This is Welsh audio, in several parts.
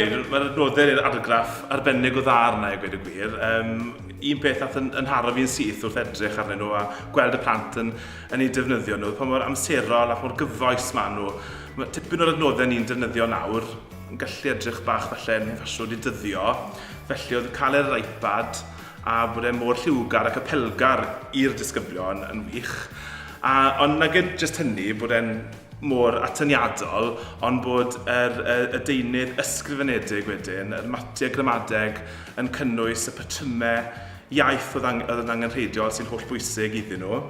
gweud, mae'r adnoddau i'r argraff arbennig o dda arna i gweud y gwir. Um, un peth nath yn, yn haro fi'n syth wrth edrych arnyn nhw a gweld y plant yn, yn ei defnyddio nhw, pa mor amserol ac mor gyfoes maen nhw. Mae tipyn o'r adnoddau ni'n defnyddio nawr yn gallu edrych bach falle yn faswd i dyddio, felly oedd cael e ar yr iPad a bod e mor lliwgar ac apelgar i'r disgyblion yn wych. A, ond nag e jyst hynny, bod e'n mor atyniadol, ond bod yr, y, y deunydd ysgrifenedig wedyn, yr matiau gramadeg yn cynnwys y patrymau iaith oedd, ang oedd yn angenrheidiol sy'n holl bwysig iddyn nhw.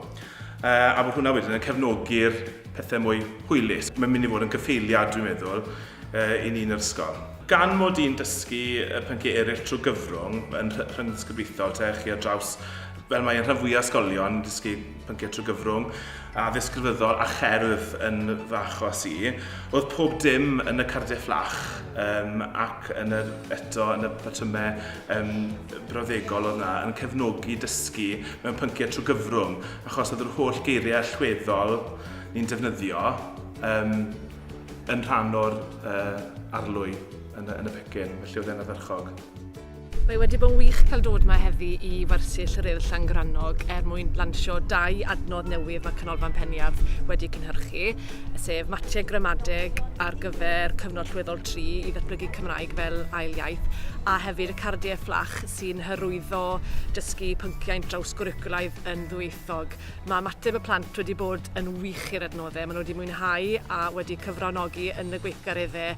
Uh, a bod hwnna wedyn yn cefnogi'r pethau mwy hwylus. Mae'n mynd i fod yn gyffeiliad, dwi'n meddwl, uh, i ni'n yr ysgol. Gan mod i'n dysgu y pynciau eraill trwy gyfrwng yn rhyngddisgyblaethol te chi ar draws fel mae yn rhan fwyaf ysgolion yn dysgu pynciau trwy gyfrwng, a ddisgrifyddol a cherdd yn fy achos i. Oedd pob dim yn y cardiau fflach um, ac yn yr, eto yn y patrymau um, brawddegol oedd yna yn cefnogi dysgu mewn pynciau trwy gyfrwng, achos oedd yr holl geiriau allweddol ni'n defnyddio um, yn rhan o'r uh, arlwy yn y, yn y pecyn, felly oedd e'n addyrchog. Mae wedi bod yn wych cael dod yma heddi i wersyll yr Urdd Llangrannog er mwyn lansio dau adnodd newydd mae Canolfan Peniarth wedi cynhyrchu, sef matiau gramadeg ar gyfer cyfnod llweddol 3 i ddatblygu Cymraeg fel ail iaith, a hefyd y cardiau fflach sy'n hyrwyddo dysgu pynciau drawsgwricwlaidd yn ddwyieithog. Mae ymateb y plant wedi bod yn wych i'r adnoddau, maen nhw wedi mwynhau a wedi cyfranogi yn y gweithgareddau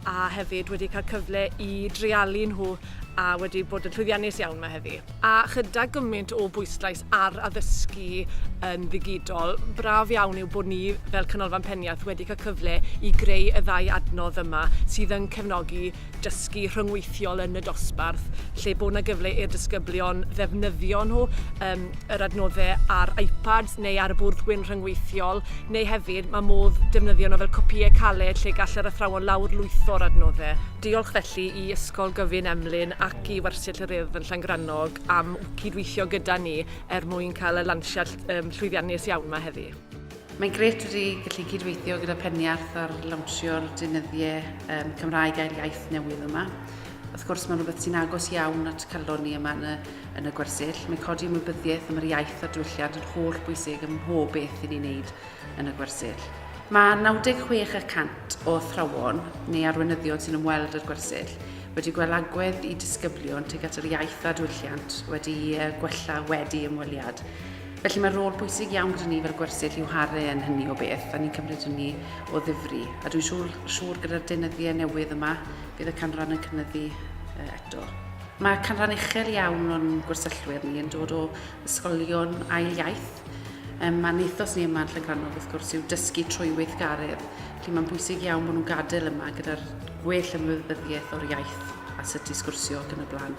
a hefyd wedi cael cyfle i dreialu nhw a wedi bod yn llwyddiannus iawn mae heddi. A chyda gymaint o bwyslais ar addysgu yn ddigidol, braf iawn yw bod ni fel Canolfan Peniarth wedi cael cyfle i greu y ddau adnodd yma sydd yn cefnogi dysgu rhyngweithiol yn y dosbarth lle bod 'na gyfle i'r disgyblion ddefnyddio nhw, um, yr adnoddau ar iPads neu ar y bwrdd gwyn rhyngweithiol, neu hefyd mae modd defnyddio nhw fel copïau caled lle gall yr athrawon lawr lwytho'r adnoddau. Diolch felly i Ysgol Gyfun Emlyn ac i Wersyll yr Urdd yn Llangrannog am cydweithio gyda ni er mwyn cael y lansiad um, llwyddiannus iawn yma heddi. Mae'n grêt wedi gallu cydweithio gyda Peniarth ar lawnsio'r deunyddiau um, Cymraeg a'r iaith newydd yma. Wrth gwrs, mae'n rhywbeth sy'n agos iawn at calon ni yma yn y, yn y gwersyll. Mae codi ymwybyddiaeth am yr iaith a'r diwylliant yn holl bwysig ym mhob beth i ni'n neud yn y gwersyll. Mae 96 y cant o athrawon neu arweinyddion sy'n ymweld â'r gwersyll wedi gweld agwedd i disgyblion tuag at yr iaith a diwylliant wedi gwella wedi ymweliad. Felly mae rôl bwysig iawn gyda ni fel gwersyll i'w haru yn hynny o beth, a ni'n cymryd hynny o ddifri. A dwi'n siŵr, siŵr gyda'r deunyddiau newydd yma, bydd y canran yn cynyddu eto. Mae canran uchel iawn o'n gwersyllwyr ni yn dod o ysgolion ail iaith. Um, a'n ethos ni yma yn Llangrannog wrth gwrs yw dysgu trwy weithgaredd, felly mae'n bwysig iawn bod nhw'n gadael yma gyda'r gwell ymwybyddiaeth o'r iaith a sut i sgwrsio ac yn y blaen.